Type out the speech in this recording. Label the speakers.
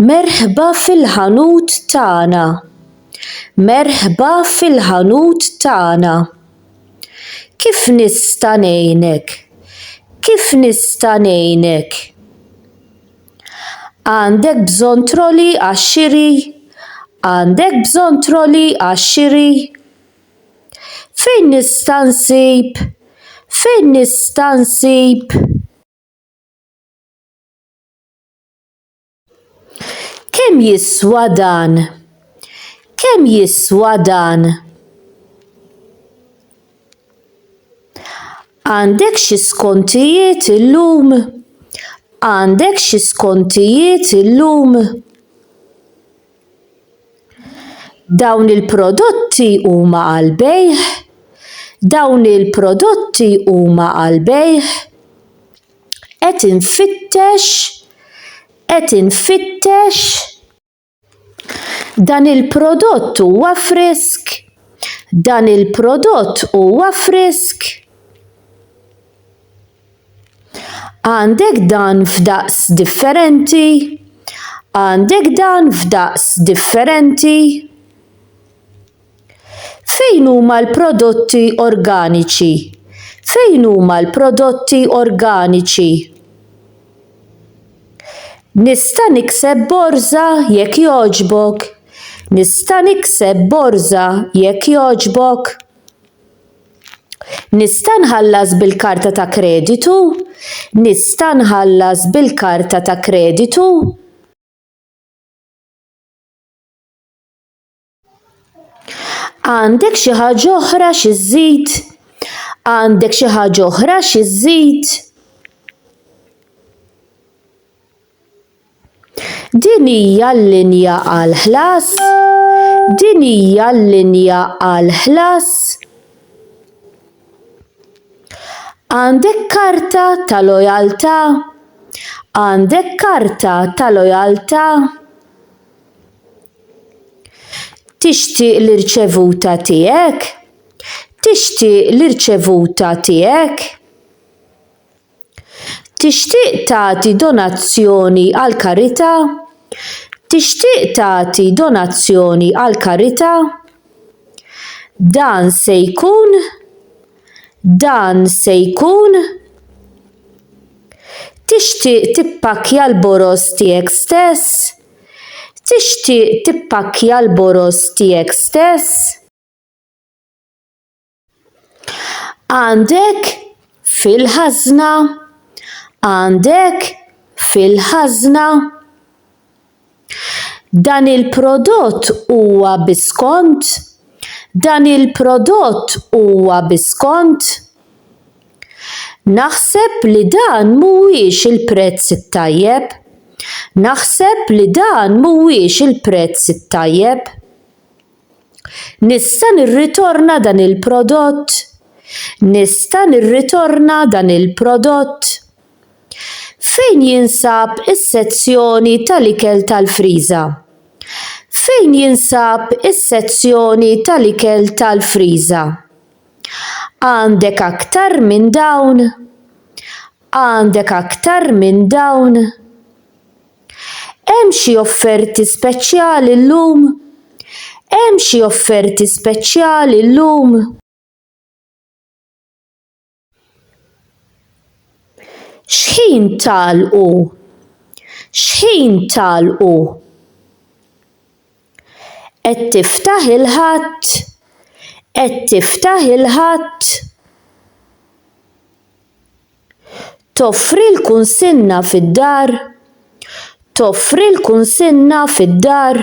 Speaker 1: Merħba fil-ħanut tagħna. Merħba fil-ħanut tagħna. Kif nista' ngħinek? Kif nista' ngħinek? Għandek bżonn troli għax-xiri? Għandek bżonn troli għax-xiri? Fejn nista' nsib? Fejn nista' nsib? Kemm jiswa dan? Kemm jiswa dan? Għandek xi skontijiet illum? Għandek xi skontijiet illum? Dawn il-prodotti huma għal bejħ? Dawn il-prodotti huma għal bejħ? Qed infittex, qed infittex. Dan il-prodott huwa frisk. Dan il-prodott huwa frisk. Għandek dan f'daqs differenti? Għandek dan f'daqs differenti? Fejn huma l-prodotti organiċi? Fejn huma l-prodotti organiċi? Nista' nikseb borża jekk jogħġbok? Nista' nikseb borża jekk jogħġbok? Nista' nħallas bil-karta ta' kreditu? Nista' nħallas bil-karta ta' kreditu? Għandek xi ħaġa oħra xi żżid? Għandek xi ħaġa oħra xi żżid? Din hija l-linja għal ħlas. Din hija l-linja għal ħlas. Għandek karta ta' lojaltà? Għandek karta ta' lojaltà? Tixtieq li rċevuta tiegħek? Tixtieq li rċevuta tiegħek? Tixtieq tagħti donazzjoni għal karità? Tixtieq tagħti donazzjoni għal karità? Dan se jkun Dan se jkun Tixtieq tippakkja l-boroż tiegħek stess? Tixtieq tippakkja l-boroż tiegħek stess? Għandek fil-ħażna Għandek fil-ħażna? Dan il-prodott huwa bi skont? Dan il-prodott huwa bi skont? Naħseb li dan mhuwiex il-prezz it-tajjeb. Naħseb li dan mhuwiex il-prezz it-tajjeb. Nista' nirritorna dan il-prodott? Nista' nirritorna dan il-prodott? Fejn jinsab is-sezzjoni tal-ikel tal-friża? Fejn jinsab is-sezzjoni tal-ikel tal-friża? Għandek aktar minn dawn? Għandek aktar minn dawn? Hemm xi offerti speċjali llum? Hemm xi offerti speċjali llum? X'ħin tagħlqu? X'ħin tagħlqu? Qed tiftaħ il-Ħadd? Qed tiftaħ il-Ħadd? Toffri l-kunsinna fid-dar? Toffri l-kunsinna fid-dar?